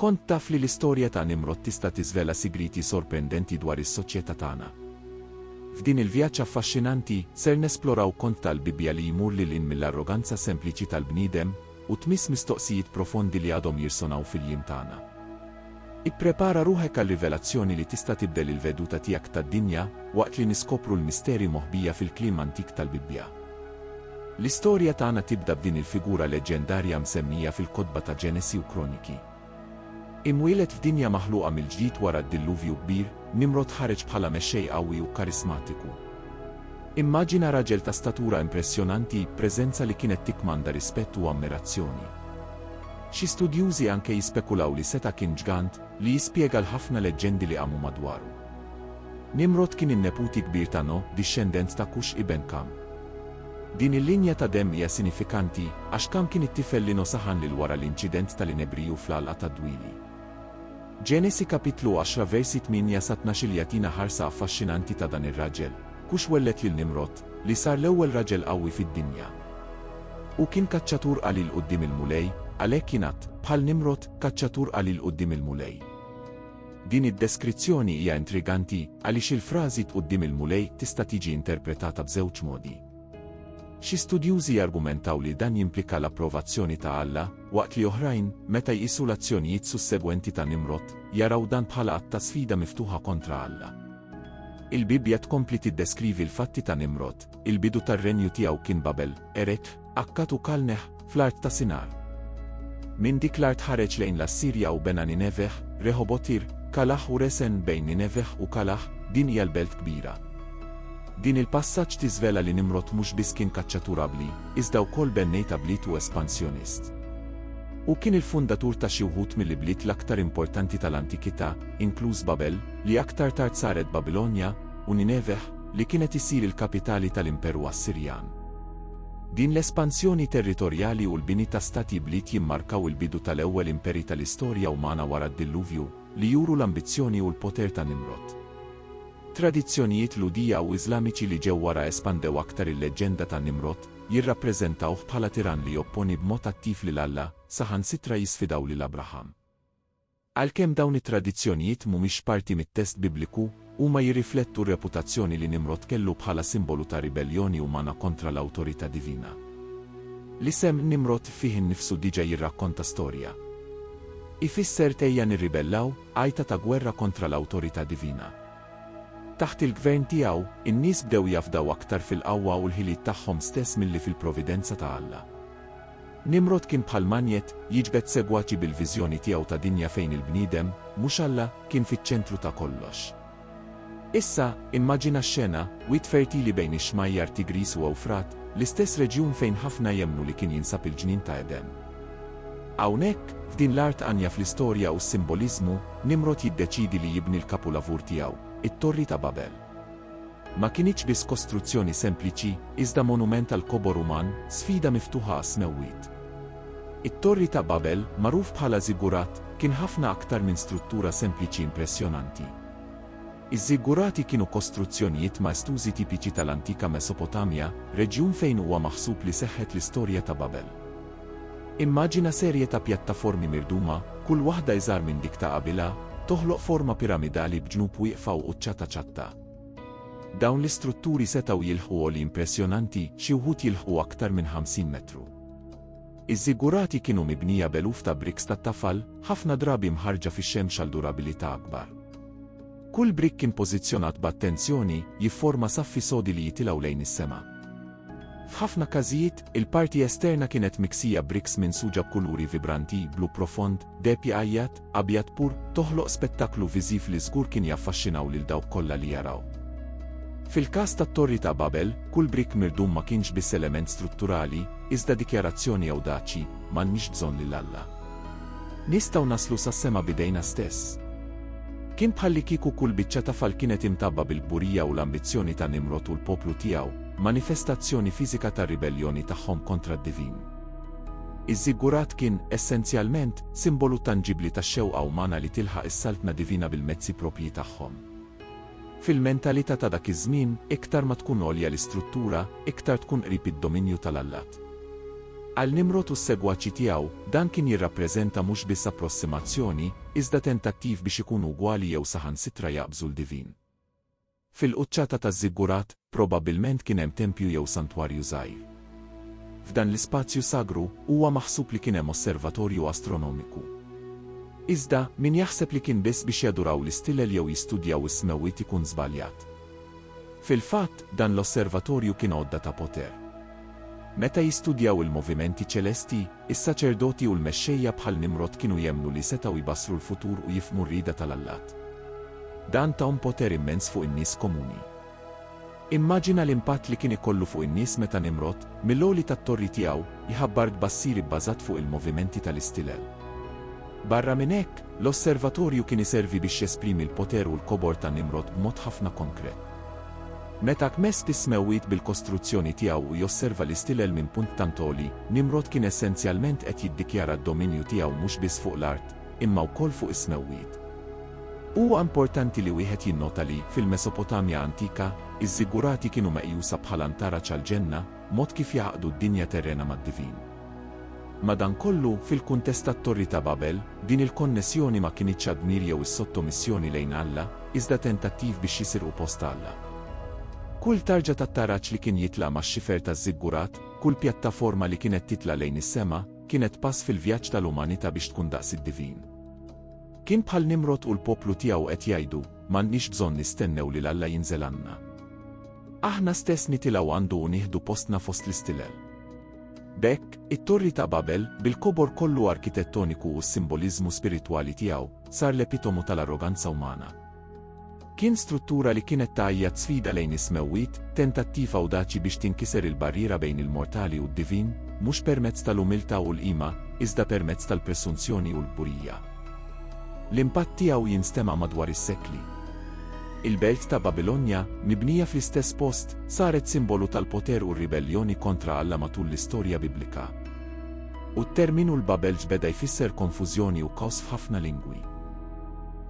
Kont taf li l-istorja ta' Nimrod tista' tiżvela sigrieti sorprendenti dwar is-soċjetà tagħna? F'din il-vjaġġ affaxxinanti, ser nesploraw kont tal-Bibbja li jmur lil hinn mill-arroganza sempliċi tal-bniedem u tmiss mistoqsijiet profondi li għadhom jirsonaw fil-jiem tagħna. Ipprepara ruħek għal rivelazzjoni li tista' tibdel il-veduta tiegħek tad-dinja waqt li niskopru l-misteri moħbija fil-kliem antik tal-Bibbja. L-istorja tagħna tibda b'din il-figura leġġendarja msemmija fil-kotba ta' Ġenesi u Kroniki. Imwieled f'dinja maħluqa mill-ġdid wara d-Dilluvju Kbir, Nimrod ħareġ bħala mexxej qawwi u karismatiku. Immaġina raġel ta' statura impressjonanti, preżenza li kienet tikkmanda rispett u ammirazzjoni. Xi studjużi anke jispekulaw li seta' kien ġgant, li jispjega l-ħafna leġġendi li qamu madwaru. Nimrod kien in-neputi kbir ta' No, dixxendent ta' Kux iben Kam. Din il-linja ta' demm hija sinifikanti, għax Kam kien it-tifel li No saħan lil wara l-inċident tal-inebriju fl-għalqa tad-dwieli. Ġenesi kapitlu għaxra versi tmienja sa tnax-il jagħtina ħarsa affaxxinanti ta' dan ir-raġel, Kux welled lil Nimrod, li sar l-ewwel raġel qawwi fid-dinja. Hu kien kaċċatur qalil quddiem il-Mulej, għalhekk jingħad, bħal Nimrod, kaċċatur qalil quddiem il-Mulej. Din id-deskrizzjoni hija intriganti għaliex il-frażi 't quddiem il-Mulej tista' tiġi interpretata b'żewġ modi. Xi studjużi jargumentaw li dan jimplika l-approvazzjoni ta' Alla, waqt li oħrajn, meta jqisu l-azzjonijiet sussegwenti ta' Nimrod, jaraw dan bħala att ta' sfida miftuħa kontra Alla. Il-Bibbja tkompli tiddeskrivi l-fatti ta' Nimrod, Il-bidu tar-renju tiegħu kien Babel, Eretħ, Akkad u Kalneh, fl-art ta' Sinar. Minn dik l-art ħareġ lejn l-Assirja u bena Nineveh, Reħobotir, Kalah u Resen bejn Nineveh u Kalah, din hija l-belt kbira. Din il-passaġġ tiżvela li Nimrod mhux biss kien kaċċatur abbli, iżda wkoll bennejt ablit u espansjonist. Hu kien il-fundatur ta' xi wħud mill-ibliet l-aktar importanti tal-antikità, inkluż Babel, li aktar tard saret Babilonja, u Nineveh, li kienet issir il-kapitali tal-Imperu Assirjan. Din l-espansjoni territorjali u l-bini ta' stati bliet jimmarkaw il-bidu tal-ewwel imperi tal-istorja umana wara d-Dilluvju, li juru l-ambizzjoni u l-poter ta' Nimrod. Tradizzjonijiet Lhudija u Iżlamiċi li ġew wara espandew aktar il-leġġenda ta' Nimrod, jirrappreżentawh bħala tirann li jopponi b'mod attiv lil Alla, saħansitra jisfidaw lil Abraham. Għalkemm dawn it-tradizzjonijiet mhumiex parti mit-test Bibliku, huma jirriflettu r-reputazzjoni li Nimrod kellu bħala simbolu ta' ribelljoni umana kontra l-awtorità divina. L-isem Nimrod fih innifsu diġà jirrakkonta storja. Ifisser t'ejja nirribellaw, għajta ta' gwerra kontra l-awtorità divina. Taħt il-gvern tiegħu, in-nies bdew jafdaw aktar fil-qawwa u l-ħiliet tagħhom stess milli fil-providenza ta' Alla. Nimrod kien bħal manjett, jiġbed segwaċi bil-viżjoni tiegħu ta' dinja fejn il-bniedem, mhux Alla, kien fiċ-ċentru ta' kollox. Issa, immaġina x-xena, wied fertili bejn ix-xmajjar Tigris u Ewfrat, l-istess reġjun fejn ħafna jemmnu li kien jinsab il-ġnien ta' Eden. Hawnhekk, f'din l-art għanja fl-istorja u s-simboliżmu, Nimrod jiddeċiedi li jibni l-kapulavur tiegħu, it-Torri ta' Babel. Ma kinitx biss kostruzzjoni sempliċi, iżda monument għall-kobor uman, sfida miftuħa għas-smewwiet. It-Torri ta' Babel, magħruf bħala żiggurat, kien ħafna aktar minn struttura sempliċi impressjonanti. Iż-żiggurati kienu kostruzzjonijiet maestużi tipiċi tal-antika Mesopotamja, reġjun fejn huwa maħsub li seħħet l-istorja ta' Babel. Immaġina serje ta' pjattaformi mirduma, kull waħda iżgħar minn dik ta' qabilha, toħloq forma piramidali b'ġnub wieqfa u quċċa ta' ċatta. Dawn l-istrutturi setgħu jilħqu għoli impressjonanti, xi wħud jilħqu aktar minn 50 metru. Iż-żigurati kienu mibnija b'eluf ta' bricks tat-tafal, ħafna drabi mħarrġa fix-xemx għal durabilità akbar. Kull brick kien pożizzjonat b'attenzjoni, jifforma saffi sodi li jitilgħu lejn is-sema. F'ħafna każijiet, il-parti esterna kienet miksija briks minsuġa b'kuluri vibranti, blu profond, deheb jgħajjat, abjad pur, toħloq spettaklu viżiv li żgur kien jaffaxxinaw lil dawk kollha li jaraw. Fil-każ tat-Torri ta' Babel, kull brick mirdum ma kienx biss element strutturali, iżda dikjarazzjoni ewdaċi, M'għandniex bżonn lil Alla. Nistgħu naslu sas-sema b'idejna stess. Kien bħallikieku kull biċċa ta' fall kienet imtabba bil-kburija u l-ambizzjoni ta' Nimrod u l-poplu tiegħu, manifestazzjoni fiżika tar-ribelljoni tagħhom kontra d-divin. Iż-żiggurat kien, essenzjalment, simbolu tanġibbli tax-xewqa umana li tilħaq is-saltna divina bil-mezzi proprji tagħhom. Fil-mentalità ta' dak iż-żmien, iktar ma tkun għolja l-istruttura, iktar tkun qrib id-dominju tal-allat. Għal Nimrod u s-segwaċi tiegħu, dan kien jirrappreżenta mhux biss approssimazzjoni, iżda tentattiv biex ikunu ugwali jew saħansitra jaqbżu l-divin. Fil-quċċata taż-żiggurat, probabbilment kien hemm tempju jew santwarju żgħir. F'dan l-ispazju sagru, huwa maħsub li kien hemm osservatorju astronomiku. Iżda, min jaħseb li kien biss biex jaduraw l-istilel jew jistudjaw is-smewwiet ikun żbaljat. Fil-fatt, dan l-osservatorju kien għodda ta' poter. Meta jistudjaw il-movimenti ċelesti, is-saċerdoti u l-mexxejja bħal Nimrod kienu jemmnu li setgħu jbassru l-futur u jifhmu r-rieda tal-allat. Dan tahom poter immens fuq in-nies komuni. Immaġina l-impatt li kien ikollu fuq in-nies meta Nimrod, mill-għoli tat-torri tiegħu, jħabbar tbassir ibbażat fuq il-movimenti tal-istilel. Barra minn hekk, l-osservatorju kien iservi biex jesprimi l-poter u l-kobor ta' Nimrod b'mod ħafna konkret. Meta kmest is-smewwiet bil-kostruzzjoni tiegħu u josserva l-istilel minn punt tant għoli, Nimrod kien essenzjalment qed jiddikjara d-dominju tiegħu mhux biss fuq l-art, imma wkoll fuq is-smewwiet. Huwa importanti li wieħed jinnota li, fil-Mesopotamja antika, iż-żigurati kienu meqjusa bħala ntaraġ għall-ġenna, mod kif jgħaqqdu d-dinja terrena mad-divin. Madankollu, fil-kuntest tat-Torri ta' Babel, din il-konnessjoni ma kinitx għad-dmir jew is-sottomissjoni lejn Alla, iżda tentattiv biex jisirqu post Alla. Kull tarġa tat-taraġ li kien jitla' max-xifer taż-żiggurat, kull pjattaforma li kienet titla' lejn is-sema, kienet pass fil-vjaġġ tal-umanità biex tkun daqs id-divin. Kien bħal Nimrod u l-poplu tiegħu qed jgħidu, M'għandniex bżonn nistennew lil Alla jinżel għandna. Aħna stess nitilgħu għandu u nieħdu postna fost l-istilel. B'hekk, it-Torri ta' Babel, bil-kobor kollu arkitettoniku u s-simboliżmu spiritwali tiegħu, sar l-epitomu tal-arroganza umana. Kien struttura li kienet tgħajjat sfida lejn is-smewwiet, tentattiv awdaċi biex tinkiser il-barriera bejn il-mortali u d-divin, mhux permezz tal-umiltà u l-qima, iżda permezz tal-presunzjoni u l-kburija. L-impatt tiegħu jinstema' madwar is-sekli. Il-belt ta' Babilonja, mibnija fl-istess post, saret simbolu tal-poter u r-ribelljoni kontra Alla matul l-istorja Biblika. U t-terminu l-Babelġ beda jfisser konfużjoni u kaws f'ħafna lingwi.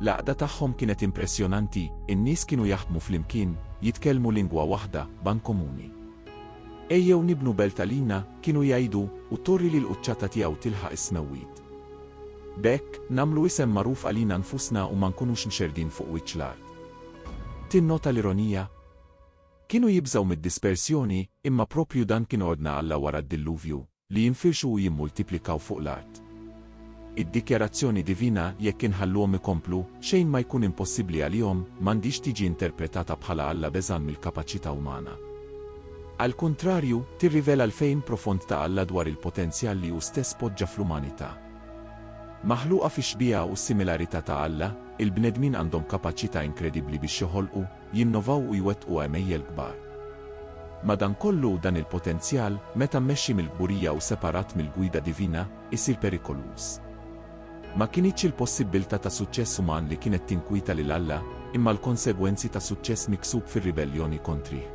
L-għaqda tagħhom kienet impressjonanti, in-nies kienu jaħdmu flimkien, jitkellmu lingwa waħda, ban komuni. Ejjew nibnu belt għalina, kienu jgħidu, u torri li l-quċċata tiegħu tilħaq is-smewwiet. B'hekk, nagħmlu isem magħruf għalina nfusna u ma nkunux mxerrdin fuq wiċċ l-art. Tinnota l-ironija? Kienu jibżgħu mid-dispersjoni, imma proprju dan kien ordna Alla wara d-Dilluvju, li jinfirxu u jimmultiplikaw fuq l-art. Id-dikjarazzjoni divina, jekk inħalluhom ikomplu, xejn ma jkun impossibbli għalihom, m'għandhiex tiġi interpretata bħala Alla beżgħan mill-kapaċità umana. Għall-kuntrarju, tirrivela l-fehim profond ta' Alla dwar il-potenzjal li hu stess poġġa fl-umanità. Maħluqa fix-xbieha u s-similarità ta' Alla, il-bnedmin għandhom kapaċità inkredibbli biex joħolqu, jinnovaw u jwettqu għemejjel kbar. Madankollu, dan il-potenzjal, meta mmexxi mill-kburija u separat mill-gwida divina, isir perikoluż. Ma kinitx il-possibbiltà ta' suċċess uman li kienet tinkwieta lil Alla, imma l-konsegwenzi ta' suċċess miksub fir-ribelljoni kontrih.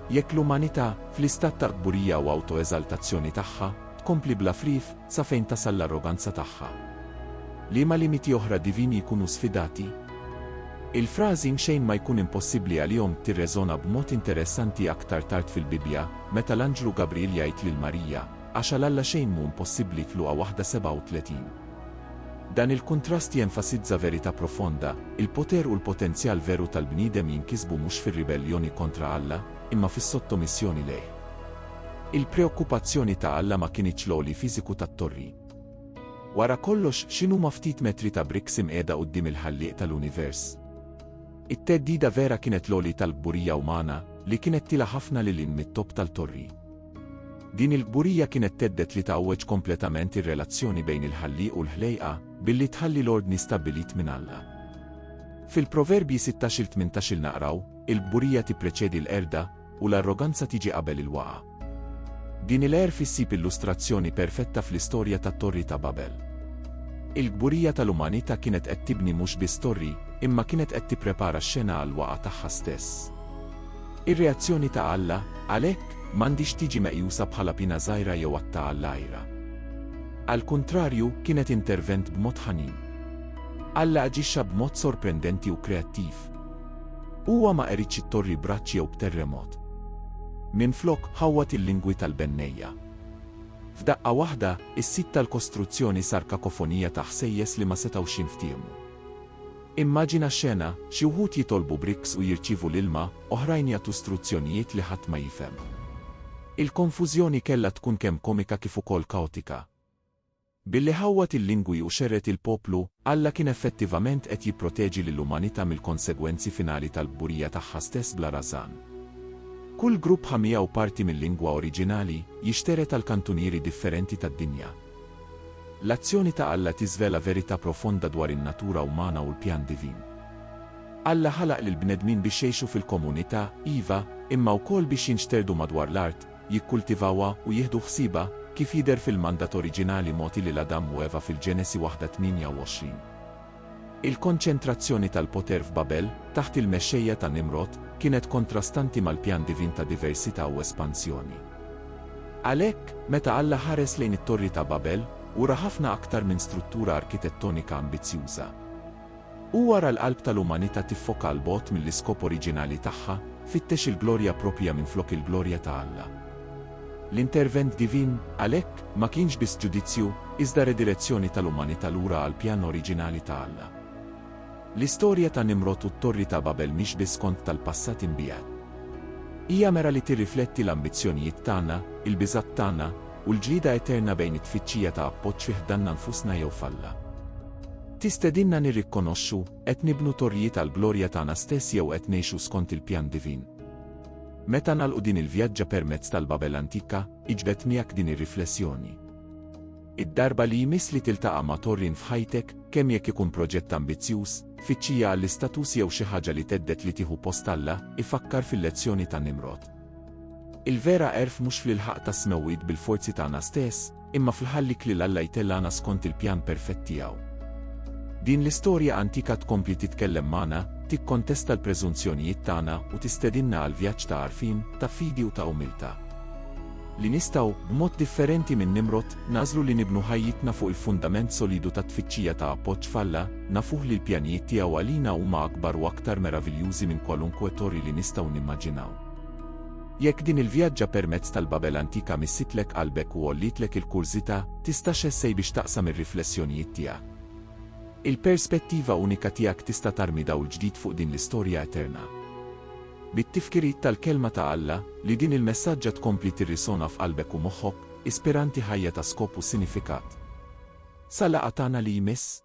Jekk l-umanità, fl-istat ta' qburija u awtoeżaltazzjoni tagħha, tkompli bla frigħ, sa fejn tasal l-arroganza tagħha? Liema limiti oħra divini jkunu sfidati? Il-frażi mxejn ma jkun impossibbli għalihom tirreżona b'mod interessanti aktar tard fil-Bibbja, meta l-anġlu Gabriel jgħid lil Marija, Għax għal Alla xejn mhu impossibbli f'Luqa 1:37. Dan il-kuntrast jenfasizza verità profonda, il-poter u l-potenzjal veru tal-bniedem jinkisbu mhux fir-ribelljoni kontra Alla, imma fis-sottomissjoni lejh. Il-preokkupazzjoni ta' Alla ma kinitx l-għoli fiżiku tat-torri. Wara kollox, x'inhuma ftit metri ta' bricks imqiegħda quddiem il-Ħallieq tal-univers? It-theddida vera kienet l-għoli tal-kburija umana, li kienet tilgħa ħafna lil hinn mit-topp tal-torri. Din il-kburija kienet thedded li tgħawweġ kompletament ir-relazzjoni bejn il-Ħallieq u l-ħlejqa, billi tħalli l-ordni stabbilit minn Alla. Fil-Proverbji 16-il 18-il naqraw, Il-kburija tippreċedi l-qerda, u l-arroganza tiġi qabel il-waqgħa. Din il-għerf issib illustrazzjoni perfetta fl-istorja tat-Torri ta' Babel. Il-kburija tal-umanità kienet qed tibni mhux biss torri, imma kienet qed tipprepara x-xena għall-waqgħa tagħha stess. Ir-reazzjoni ta' Alla, għalhekk, m'għandhiex tiġi meqjusa bħala pina żgħira jew att ta' għall-għira. Għall-kuntrarju, kienet intervent b'mod ħanin. Alla aġixxa b'mod sorprendenti u kreattiv. Huwa ma qeridx it-torri b'raġġ jew b'terremot. Minflok, ħawwad il-lingwi tal-bennejja. F'daqqa waħda, is-sit tal-kostruzzjoni sar kakofonija ta' ħsejjes li ma setgħux jinftiehmu. Immaġina xena, xi wħud jitolbu briks u jirċievu l-ilma, oħrajn jagħtu struzzjonijiet li ħadd ma jifhem. Il-konfużjoni kellha tkun kemm komika kif ukoll kaotika. Billi ħawwad il-lingwi u xerred il-poplu, Alla kien effettivament qed jipproteġi lill-umanità mill-konsegwenzi finali tal-kburija tagħha stess bla rażan. Kull grupp ħa miegħu parti mil-lingwa oriġinali, jixtered għal kantunieri differenti tad-dinja. L-azzjoni ta' Alla tiżvela verità profonda dwar in-natura umana u l-pjan divin. Alla ħalaq lill-bnedmin biex jgħixu fil-komunità, iva, imma wkoll biex jinxterdu madwar l-art, jikkultivawha u jieħdu ħsiebha, kif jidher fil-mandat oriġinali mogħti lil Adam u Eva fil-Ġenesi waħda 28. Il-konċentrazzjoni tal-poter f'Babel, taħt il-mexxejja ta' Nimrod, kienet kontrastanti mal-pjan divin ta' diversità u espansjoni. Għalhekk, meta Alla ħares lejn it-Torri ta' Babel, hu ra ħafna aktar minn struttura arkitettonika ambizzjuża. Huwa ra l-qalb tal-umanità tiffoka 'l bogħod mill-iskop oriġinali tagħha, fittex il-glorja proprja minflok il-glorja ta' Alla. L-intervent divin, għalhekk, ma kienx biss ġudizzju, iżda redirezzjoni tal-umanità lura għall-pjan oriġinali ta' Alla. L-istorja ta' Nimrod u t-Torri ta' Babel mhix biss kont tal-passat imbiegħed. Hija mera li tirrifletti l-ambizzjonijiet tagħna, il-biżgħat tagħna, u l-ġlieda eterna bejn it-tfittxija ta' appoġġ fi ħdanna nfusna jew f'Alla. Tistedinna nirrikkonoxxu, qed nibnu torrijiet għall-glorja tagħna stess jew qed ngħixu skont il-pjan divin? Meta nagħlqu din il-vjaġġa permezz tal-Babel antika, iġbed miegħek din ir-riflessjoni. Id-darba li jmiss li tiltaqa' ma' Torrin f'ħajtek, kemm jekk ikun proġett ambizzjuż, tfittxija għall-istatus jew xi ħaġa li thedded li tieħu post Alla, ifakkar fil-lezzjoni ta' Nimrod. Il-vera għerf mhux fl-ilħaq tas-smewwiet bil-forzi tagħna stess, Imma fl-ħallik lil Alla jtellgħana skont il-pjan perfett tiegħu. Din l-istorja antika tkompli titkellem magħna, tikkontesta l-preżunzjonijiet tagħna u tistedinna għal vjaġġ ta' għarfien, ta' fidi u ta' umiltà. Li nistgħu, b'mod differenti minn Nimrod, nagħżlu li nibnu ħajjitna fuq il-fundament solidu tat-tfittxija ta' appoġġ f'Alla, nafuh li l-pjanijiet tiegħu għalina huma akbar u aktar meraviljużi minn kwalunkwe torri li nistgħu nimmaġinaw. Jekk din il-vjaġġa permezz tal-Babel antika missitlek qalbek u għollietlek il-kurżità, tista' x'essej biex taqsam ir-riflessjonijiet tiegħek. Il-perspettiva unika tiegħek tista' tarmi dawl ġdid fuq din l-istorja eterna. Bit-tifkiriet tal-Kelma ta' Alla, li din il-messaġġa tkompli tirrisona f'qalbek u moħħok, ispiranti ħajja ta' skop u sinifikat. Sa laqgħa tagħna li jmiss!